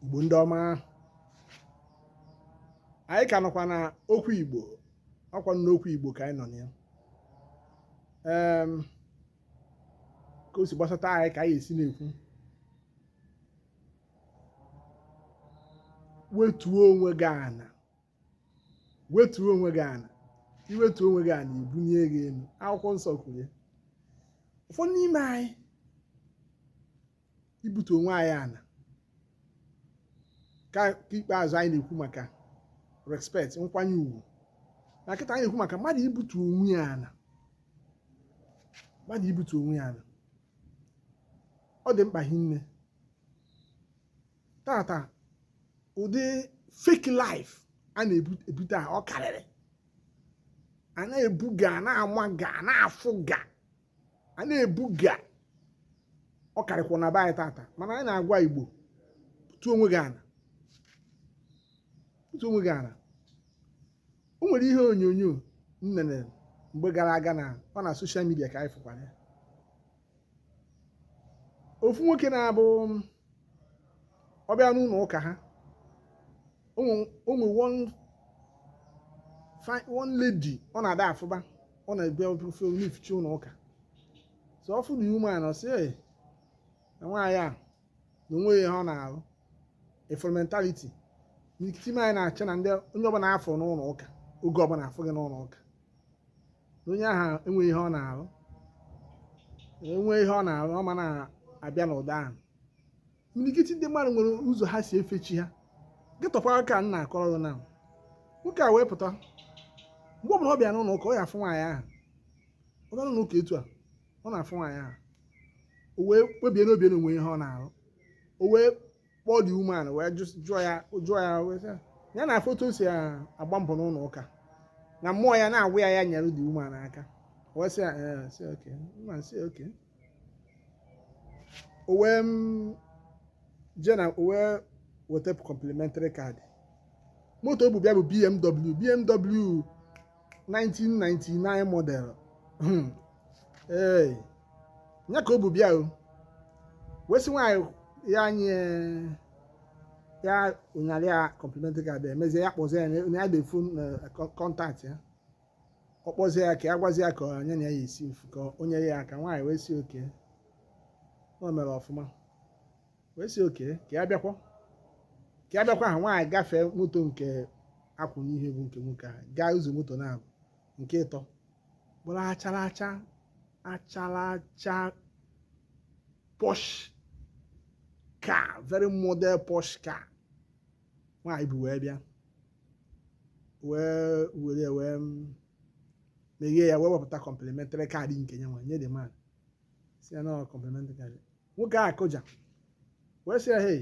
igbo ndị ọma anyị ka nọkwa na okwu igbo ọkwa n'okwu igbo ka anyị nọ na ya ka o si gbasata anyị ka anyị esi na-ekwu wetuo onwe gị ana wetuo onwe gị ana i wetuo onwe gị ana e bunie gị elu akwụkwọ nsọ kwuru ya ụfọdụ n'ime anyị ibutu onwe anyị ana nke ikpeazụ anyị na-ekwu maka respect nkwanye ugwu na kịta anyị na-ekwu maka mmadụ ibutu onwe ya ana mmadụ ibutu onwe ya ana ọ dị mkpa hinne taata ụdị fake life a na-ebu taa ọ karịrị a na-ebuga a na-amaga a na-afụga a na-ebuga ọ karịkwụ na be anyị taata mana anyị na-agwa igbo butuo onwe gị ana butuo onwe gị ana o nwere ihe onyonyo m nene mgbe gara aga na ọ na social media ka anyị fụkwara ya ofu nwoke na-abụ ọ bịa n'ụlọ ụka ha o nwe one lady ọ na-ada afụba ọ na-abịa ọ na-eficha ụlọ ụka so ọ fụ the woman ọ sị na nwaanyị a na o nweghị ihe ọ na-arụ ị fụrụ mentality imirikiti anyị na-eche na ndị onye ọbụla a fụ n'ụlọ ụka oge ọbụla a fụ gị n'ụlọ ụka onye ahụ enweghị ihe ọ na-arụ o nwee ihe ọ na-arụ ọ ma na-abịa n'ụdị ahụ milikiti ndị mmadụ nwere ụzọ ha si efe chi ha getụkwa ka m na-akọrọ gị na nwoke a wee pụta mgbe ọbụla ọ bịa n'ụlọ ụka ọ ya-afụ nwaanyị ahụ ọ bịa n'ụlọ ụka etu a ọ na-afụ nwaanyị ahụ o wee kpebie n'obi na o nweghị ihe ọ na-arụ o wee kpọọ the woman wee jụọ ya jụọ ya wee sị ya na ọ fụ otu o si agba mbọ n'ụlọ ụka na mmụọ ya na-agwa ya ya nyere the woman aka wee sị ya sị okay mma sị okay o wee mm, jee na o wee weta complimentary card moto o bu bịa bụ BMW BMW 1999 model hmm. ee nya ka o bu bịa o wee sị nwaanyị a nye ya ụnyalị ya complimentary card abịa emezie ya kpọzie ya na ya defu contact ya ọ kpọzie ya ka ya gwazie ya ka onye na ya esi ka o nye ya aka nwaanyị wee sị okay o mere ọfụma wee sị okay ka ya bịakwa ka ya bịakwa ha nwaanyị gafee moto nke a kwụ n'ihu bụ nke nwoke ahụ gaa ụzọ moto na-abụ nke ịtọ bụrụ achara acha achara acha posh car very model posh car nwaanyị bụ wee bịa wee were wee meghee ya wee wepụta complimentary card nke ya nwa nye the man sị ya na ọ complimentary card nwoke a kụja wee sị ya hei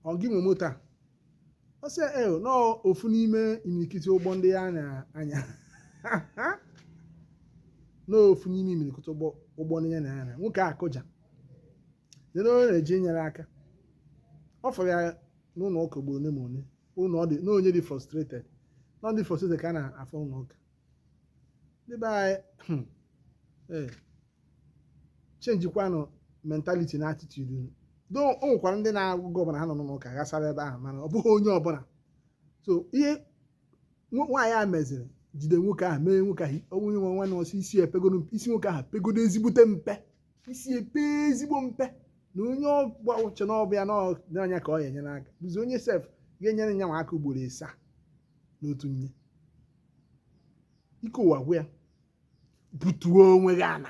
ọ gị nwe moto a ọ sị ya ee na ofu n'ime imirikiti ụgbọ ndị ya na-anya n'ofu n'ime imirikiti ụgbọ ụgbọ ndị ya na-anya nwoke a kụja nene onye na-eje inyere aka ọ fụrụ ya n'ụlọ ụka ugboro ole ma ole ụlọ ọ dị na onye dị frustrated na ọ ndị frustrated ka a na-afụ n'ụlọ ụka ndị be anyị hmm, eh, chenjikwanụ mentality na attitude unu do o nwekwara ndị na-abụ oge ọbụla ha nọ n'ụka gbasara ebe ahụ mana ọ bụghị onye ọbụla so ihe nwa- nwaanyị a meziri jide nwoke ahụ mee nwoke ahụ onye nwe nwanne ọsọ isi epegodo isi nwoke ahụ pegodo ezigbote mpe isi epe ezigbo mpe na onye ọ na-eche na ọ bịa na ọ- na anya ka ọ ya enyere aka bụzi onye sef ga-enyere nya nwa aka ugboro ịsaa n'otu nye ike ụwa gwụ ya butuo onwe gị ana